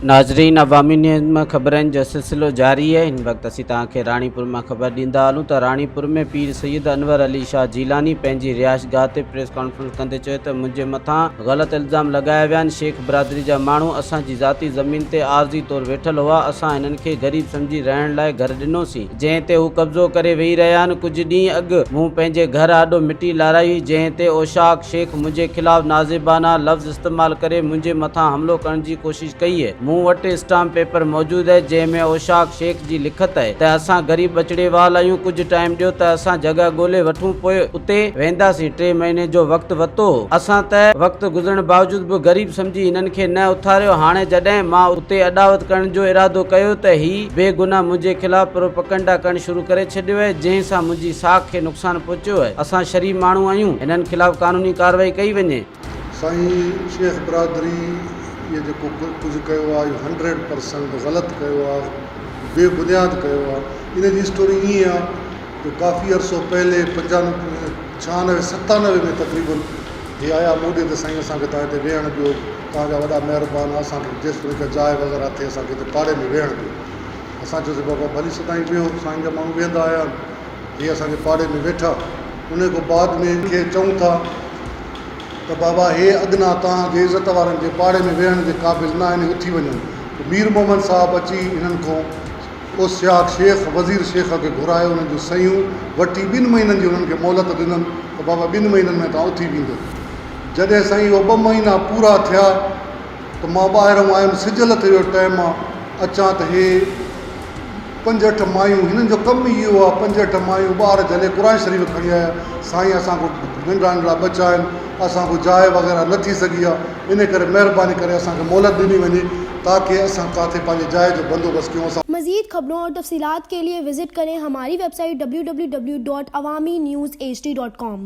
ناظرين عوامي نيوز مان خبرن جو سلسلو جاري آهي هن وقت اسين توهان کي راڻيپور مان خبر ڏيندا هلون ته راڻيپور ۾ پير سيد انور علي شاهه جيلاني پنهنجي رهائش گاهه تي پريس ڪانفرنس ڪندي چيو ته منهنجي مٿان غلط الزام لڳايا ويا آهن شيخ برادري جا ماڻهو اسان جي ذاتي زمين تي عارضي طور ويٺل هئا اسان هنن کي غريب سمجهي رهڻ لاء گهر ڏنوسين جنهن تي هو قبضو ڪري ويهي رهيا آهن، ڪجهه ڏينهن اڳ مون پنهنجي گهر آڏو مٽي لارائي هئي، جنهن تي اوشاق شيخ منهنجي خلاف نازيبانه لفظ استعمال ڪري منهنجي مٿان حملو ڪرڻ جي ڪوشش ڪئي هئي، مون وٽ اسٽامپ پيپر موجود آهي، جنهن ۾ اوشاق شيخ جي لکت آهي ته اسان غريب ٻچڙي وال آهيون، ڪجهه ٽائيم ڏيو ته اسان جڳهه ڳولي وٺون پوء اتي وينداسين، ٽي مهيني جو وقت وتو هو، اسان ته وقت گذرڻ باوجود به غريب سمجهي هنن کي نه اٿاريو، هاڻي جڏهن مان اتي اڏاوت ڪرڻ جو ارادو ڪيو ته هي. بي گناھ منهنجي خلاف پروپئگنڊا ڪرڻ شروع ڪري ڇڏيو اهي جنهن سان منهنجي ساک کي نقصان پهچيو اهي اسان شريف ماڻهو آهيون هنن خلاف قانوني ڪارروائي ڪئي وڃي. سائين شيخ برادري اهي جيڪو ڪجهه ڪيو آهي اهو هنڊريڊ پرسنٽ غلط ڪيو آهي بي بنياد ڪيو آهي ان جي اسٽوري ائين آهي جو ڪافي عرصو پهلي پنجانوي ڇهانوي ستانوي ۾ تقريبن هي آيا مون ڏي ته سائين اسان کي تهان هتي ويهڻ ڏيو توهان جا وڏا مهربان اسان کي جيستائين هڪ جاء وغيره اٿئي اسان کي هتي پاڙي ۾ ويهڻ ڏيو اسان چيو سين بابا ڀلي سدائين ويهو سائين جا ماڻهو ويهندا آيا آهن هي اسان جي پاڙي ۾ ويٺا انهي کان بعد ۾ هن کي چئون ٿا ته بابا هي اڳنا توهان جي عزت وارن جي پاڙي ۾ ويهڻ جي قابل نه آهن اٿي وڃو ته مير محمد صاحب اچي هنن کان اوسياق شيخ وزير شيخ کي گهرايو انهن جون صحيحون وٺي ٻن مهينن جي هنن کي مهلت ڏنن ته بابا ٻن مهينن ۾ توهان اٿي ويندو جڏهن سائين اهي ٻه مهينا پورا ٿيا ته مان ٻاهرئون آيم سج لٿي ويو ٽئي مان اچان ته هي پنج اٺ مايون هنن جو ڪم ئي اهو آهي پنج اٺ مايون ٻار جهلي قرآن شريف کڻي آيا سائين اسان کي ننڍڙا ننڍڙا ٻچا آهن اسان کي جاء وغيره نه ٿي سگهي آهي ان ڪري مهرباني ڪري اسان کي مهلت ڏني وڃي تاڪي اسان ڪاٿي پنهنجي جاء جو بندوبست ڪيون اسان مزيد خبرون اور تفصيلات ڪي لئي وزٽ ڪرين هماري ويب سائيٽ www.awaminews.hd.com